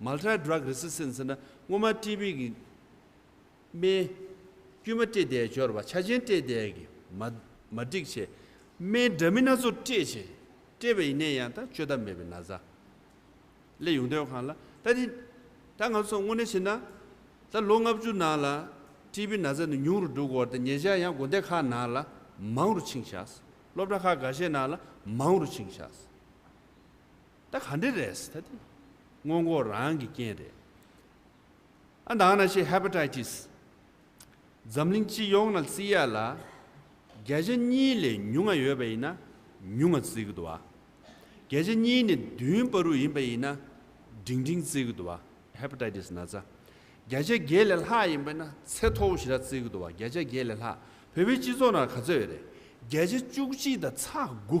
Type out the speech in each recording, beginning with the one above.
Multi Drug Resistance། ཟེར་ན་སྔོན་མ་ཀྲི་བིས་ཀྱི་རྨེན། དཀྱུས་མ་སྤྲད་དེ་སྦྱོར་བ་ཆ་ཆེན་སྤྲད་དེ་ཀྱི་མ། མ་སྒྲིག་བྱས། རྨེན་འདྲ་མིན་སྣ་ཚོགས་སྤྲད་བྱས། སྤྲད་པ་ཡིན་ནས་ཡང་ད་བཅོས་ཐབས་མེད་པའི་ན་བཟའ། ལས་ཡོང་དོན་གང་ལ་ད་དེ། ད་ང་ཚོ་དངོས་གནས་བྱས་ན། ད་ལོ་ལྔ་བཅུ་ནང་ལ་ཀྲི་བིའི་ན་བཟའ་ནི་ཉུང་རུ་འགྲོ་དགོས་བ་དང་ཉེ་ཆར་ཡང་དགོན་སྡེ་ཁག་ནང་ལ་མང་རུ་ཕྱིན་བཞག། སློབ་གྲྭ་ཁག་འགའ་ཤས་ནང་ལ་མང་རུ་ཕྱིན་བཞག། ད་ག་འདྲེ་རེད་ད་དེ། སྔོན་འགོག་རང་གི་རྐྱེན་རེད། ཨ་འདང་ན་ཤེས Hepatitis། འཛམ་གླིང་སྤྱི་ཡོངས་ན་བརྩི་ཡ་ལ། བརྒྱ་ཆ་གཉིས་ལས་ཉུང་ང་ཡོད་པ་ཡིན་ན་ཉུང་ང་བརྩི་གི་འདུག་ཨ། བརྒྱ་ཆ་གཉིས་ནས་བདུན་པ་རུ་ཡིན་པ་ཡིན་ན་འབྲིང་འབྲིང་བརྩི་གི་འདུག་ཨ Hepatitis ན་ཚ། བརྒྱ་ཆ་བརྒྱད་ལས་ལྷག་ཡིན་པ་ན་ཚེ་མཐོ་བོ་ཞེ་དྲག་བརྩི་གི་འདུག་ཨ་བརྒྱ་ཆ་བརྒྱད་ལས་ལྷག་བོད་པའི་སྤྱི་ཚོགས་ན་ག་ཚོད་ཡོད་རེད། བརྒྱ་ཆ་བཅུ་གཅིག་དང་ཚ་དགུ།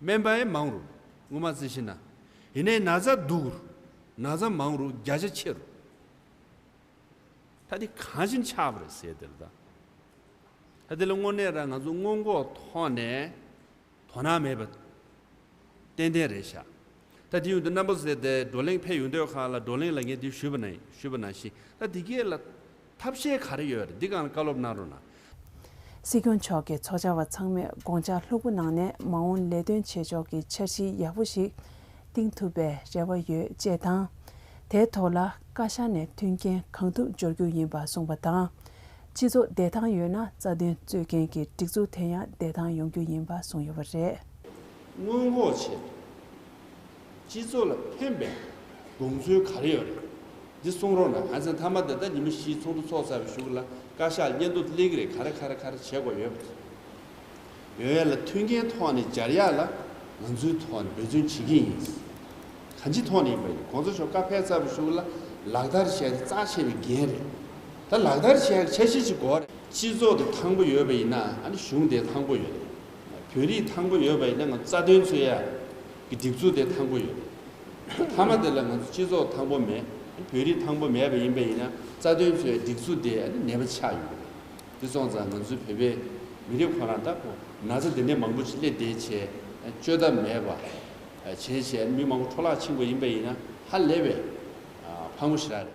སྨན་པའི་མང་རུ་སྔོ་མ་རྩི་ཤིན་ན་ཡི་ནའི་ན་བཟའ་སྡུག་རུ་ན་བཟའ་མང་རུ་བརྒྱ་ཆ་ཕྱེད་རུ། ད་དེ་གང་བཞིན་ཆགས་པ་རེད་ཟེར་དེར་ད་དེ་ལ་དངོས་གནས་ར་ང་ཚོ་སྔོན་འགོག་ཐོག་ནས་དོ་སྣང་མེད་པ་ཏན་ཏན་རེད་ཤག་ད་དེ་ཡོང་དུ་རྣམ་པ་ཟེར་ཏེ་བགྲོ་གླེང་ཕེབས་ཡོང་དོད་ཁག་ལ་བགྲོ་གླེང་ལ་ངས་དེ་ཞུས་པ་ན་ཞུས་པ་ན་ཞིག་ད་དེ་གས་ལ་ཐབས་ཤེས་ག་རེ་ཡོད་འདི་གང་བཀའ་སློབ་གནང་རོགས་གནང། སྲིད་སྐྱོང་མཆོག་གི་ཚོགས་བཅར་བ་ཚང་མས་དགོངས་འཆར་ལྷུག་པོ་གནང་ནས་མ་འོངས་ལས་དོན་བྱེད་ཕྱོགས་ཀྱི་འཆར་གཞི་ཡག་པོ་ཞིག་གཏིང་ཐུབ་པའི་རེ་བ་ཡོད་ཅེས་དང། དེའི་ཐོག་ལ་བཀའ་ཤག་ནས་མཐུན་རྐྱེན་གང་ཐུབ་སྦྱོར་རྒྱུ་ཡིན་པ་གསུངས་པ་དང། སྤྱི་ཚོགས་བདེ་ཐང་ཡོད་ན་རྩ་དོན་རྩོད་མཁན་གྱི་སྒྲིག་འཛུགས་དེ་ཡང་བདེ་ཐང་ཡོང་རྒྱུ་ཡིན་པ་གསུངས་ཡོད་པ་རེད། སྔོན་འགོག་བྱེད་དགོས། སྤྱི་ཚོགས་ལ་ཕན་པའི་དགོངས་ཚུལ་ག་རེ་ཡོད་རེད་འདི་གསུང་རོགས་གནང་ང་ཚེ་མཐའ་མ་འདི་ལྟ་ཉི་མ་བཞིའི་ཚོགས་འདུ་ཚོགས་ཚར་བའི་ཞུགས་ལ་བཀའ་ཤག་སྙན་ཐོ་སླེ་གི་རེད་ག་རེ་ག་རེ་ག་རེ་བྱེད་དགོས་ཡོད་རེད་ཡོད་ལ་མཐུན་རྐྱེན་ཐོག་ནས་སྦྱར་ཡག་ལ་ང་ཚོའི་ཐོག་ནས་འབད་བརྩོན་བྱེད་ཀྱི་ཡིན་གང་ཅི་ཐོག་ནས་ཡིན་པ་ཡིན་གོང་ས་མཆོག་བཀའ་ཕེབས་ཚར་བའི་ཞུགས་ལ་ལག་བསྟར་བྱས་ཏེ་རྩ་ཆེ་བའི་འགན་རེད་ད་ལག་བསྟར་བྱས་ཀྱི་ཆ་ཤས་ཅིག་དགོས་རེད། སྤྱི་ཚོགས་དེ་ཐང་པོ་ཡོད་པ་ཡིན་ན་ཨ་ནི་གཞུང་དེ་ཐང་པོ་ཡོད་རེད། བོད་རིགས་ཐང་པོ་ཡོད་པ་ཡིན་ན་ང་ཚོ་རྩ་དོན་འཚོལ་ཡ་གི་སྒྲིག་འཛུགས་དེ་ཐང་པོ་ཡོད། མཐའ་མ་དེ་ལ་ང་ཚོ་སྤྱི་ཚོགས་ཐང་པོ་མེད་བོད་རིགས་ཐང་པོ་མེད་པ་ཡིན་པ་ཡིན་ན་རྩ་དོན་འཚོལ་ཡ་སྒྲིག་འཛུགས་དེ་ནད་པ་ཆགས་ཡོད། དེ་སོང་ཙང་ང་ཚོའི་བོད་པའི་མི་རིགས་ཁོ་རང་ལྟ་བུ་ན་ཚ་དེ་འདྲའི་མང་པོ་ཞིག་སླེབས་བསྡད་བྱས་བཅོས་ཐབས་མེད་པ། བྱས་བྱས་མི་མང་པོ་འཕྲོ་བརླག་ཕྱིན་པ་ཡིན་པ་ཡིན་ན་ཧ་ལས་པའི་ཕག་མོ་ཞིག་རག་རེད།